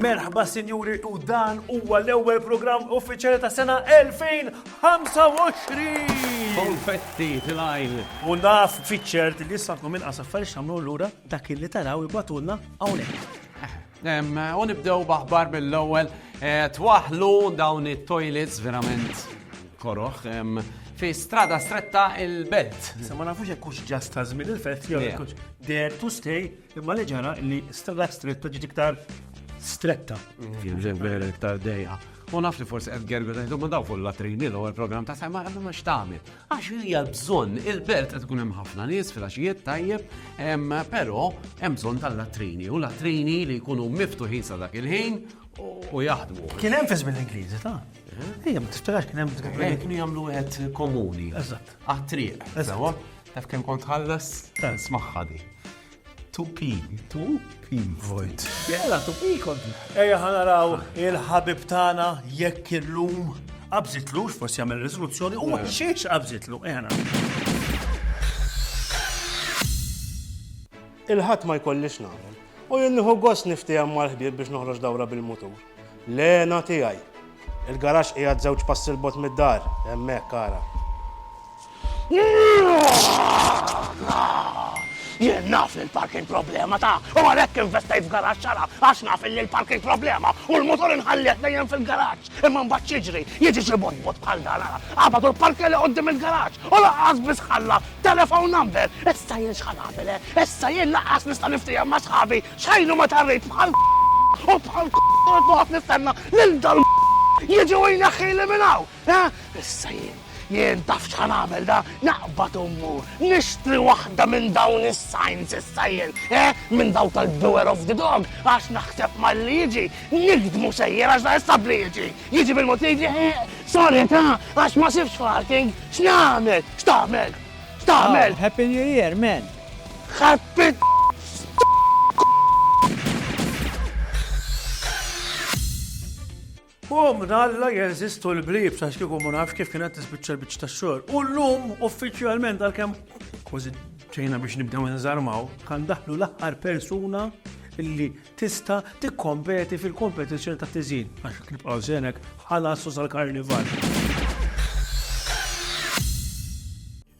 Merħba sinjuri u dan huwa l-ewwel programm uffiċjali ta' sena 2025. Konfetti tilajn. U naf fiċċert li issa nkom inqas affarijiet x'tagħmlu lura dak li taraw ibatulna hawnhekk. U nibdew baħbar mill-ewwel twaħlu dawn it-toilets verament koroħ fi strada stretta il-belt. Se ma nafux hekk hux ġast ta' żmien il-fett jew hekk hux dare to stay imma li ġara li strada stretta ġiet iktar stretta. Jien ġen vera iktar dejja. U naf li forsi qed gergu tajtu ma daw fuq latrini l ewwel programm ta' sajma għandu ma x'tagħmel. Għax hija bżonn, il-belt qed ikun hemm ħafna nies fil-għaxijiet tajjeb, però hemm bżonn tal-latrini u latrini li jkunu miftuħin sa dak il-ħin u jaħdmu. Kien hemm fiż mill-Ingliżi, ta' Ejja, ma tiftax kien hemm. Eh, kienu jagħmlu wieħed komuni. Eżatt. Għat-triq. Eżatt. Taf kemm kont ħallas? Smaħħadi. Tupi, tupi, vojt. Jela, tupi kont. Eja ħanaraw il-ħabib tana jekk illum qabżitlux forsi jagħmel riżoluzzjoni u ma xiex qabżitlu. Eja Il-ħadd ma jkollix nagħmel. U jien nieħu gost niftehom mal-ħbieb biex noħroġ dawra bil-mutur. L-hena tiegħi. Il-garaxx qiegħed żewġ passi 'l bogħod mid-dar, hemmhekk ara. Jien naf li l-parking problema ta' u għalhekk investejt f'garaġġ xara għax naf li l-parking problema u l-motor inħalliet dejjem fil-garaġġ. Imma mbagħad xiġri, jiġi xi botbot bħal dan ara. Qabad u l-parkja li qudiem il-garaġġ u laqqas biss ħalla telephone number. Issa jien x'ħa nagħmel, eh? Issa jien laqqas nista' niftiehem ma' sħabi X'ħajru meta rrid bħal u bħal noqgħod noqgħod nistenna lil dal jiġi u jneħħili minn hawn, ha? Issa jien, jien taf x'ħa nagħmel da? Naqbad u mmur nixtri waħda minn dawn is-signs issa jien, ha? Minn dawk tal-beware of the dog għax naħseb malli jiġi nikdmu sejjer għax da issa bli jiġi, jiġi bil-mod li jiġi eh, sorry ta, għax ma sibx parking, x'nagħmel, x'tagħmel, x'tagħmel? Happy New Year, man! Ħadd Bom, dalla jeżistu l-blib, sax kieku ma nafx kif kienet tispiċċa l-biċċ ta' xogħol. U llum uffiċjalment għalkemm kważi ġejna biex nibdew nżarmaw, kan daħlu l-aħħar persuna illi tista' tikkompeti fil-kompetizzjoni ta' tiżin għax nibqgħu żenek ħalas sal-karnival.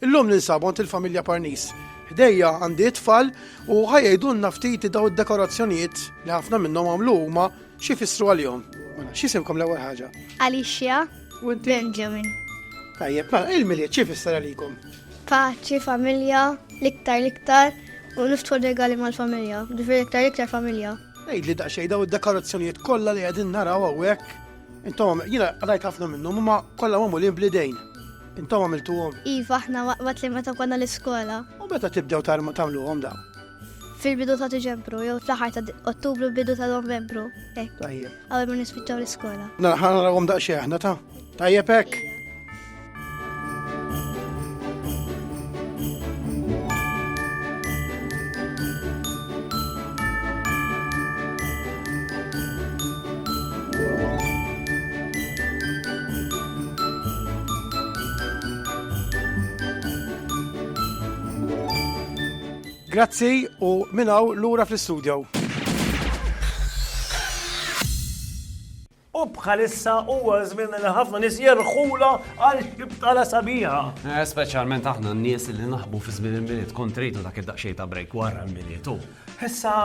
Illum ninsab għand il-familja Parnis. Ħdejja għandi it-tfal u ħa jgħidulna ftit dawn id-dekorazzjonijiet li ħafna minnhom għamlu huma xi jfissru għalihom. Mela, x'isimkom l-ewwel ħaġa? Alicia. U inti? Benjamin. Tajjeb, mela, il-milied xi jfisser għalikom? Paċi, familja, l-iktar l-iktar u niftħu regali mal-familja, ġifieri l-iktar l-iktar familja. Għidli daqsxejn dawn id-dekorazzjonijiet kollha li qegħdin naraw hawnhekk. Intom, jiena rajt ħafna minnhom huma kollha magħmulin bl-idejn. Intom għamiltuhom. Iva, aħna waqt li meta konna l-iskola. U meta tibdew tagħmluhom dawn? Fil-bidu ta' Diċembru, jew fl-aħħar ta' Ottubru, bidu ta' Novembru. Tajjeb. Għawel ma nispiċċaw l-iskola. Naraw għom daqxie aħna ta' tajjeb hekk. Grazzi u minn hawn lura fl-istudjow. U bħalissa huwa żmien li ħafna nies jerħula għal xi btala sabiħa. Eh, speċjalment aħna n-nies li naħbu fi żmien il-milied kont rejtu dak id-daqsxejn ta' break wara l-milied u. Issa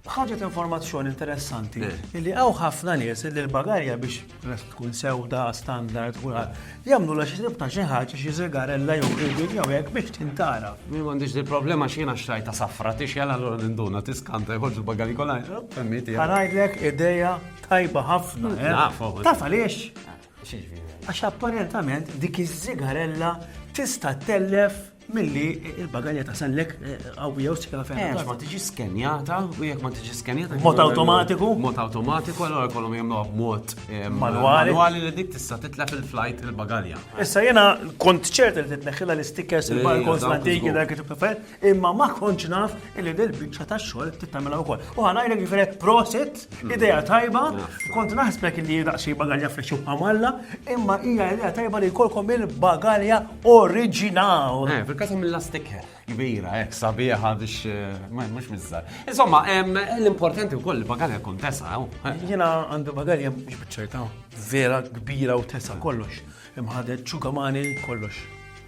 ħaġet informazzjoni interessanti eh. li għaw ħafna nies li l-bagarja biex tkun sewda standard u jamlu la xi ta' xi ħaġa xi żigarella jew ribin jew hekk biex tintara. Mi m'għandix di problema x'jiena xtrajta safra tix jalla l-għura ninduna tiskanta jħorġu l-bagarji kollha. Għanajdlek ideja Tajba ħafna, eh? Nafu. Taf għaliex? Għax apparentament dik iż-żigarella tista' tellef milli il-bagalja ta' sellek għawija eh, u s-sikla fejn. Għax ma tiġi skenjata, u jek ma tiġi skenjata. Mot automatiku? Mot automatiku, għallora kolom jemlu mot eh, manuali. Manuali li dik tista' titlef il-flajt il-bagalja. Issa jena kont ċert li titneħħila l-stickers il-barcodes l-antiki dak kif imma ma kontx naf illi dil-biċċa ta' xogħol tittamela wkoll. U ħanajlek ġifieri prosit, mm. idea tajba, kont naħsbek illi daqsxi bagalja fexxu bħamalla, imma hija idea tajba li jkollkom il-bagalja oriġinal. Eh, fil-każ mill lastiker kbira, ek, sabiħa biex, eh, mux mizzar. Insomma, l-importanti u koll il-bagalja kun tesa, eh? Jena għandu bagalja biex bċerta, vera kbira u tesa kollox. Imħadet ċugamani kollox.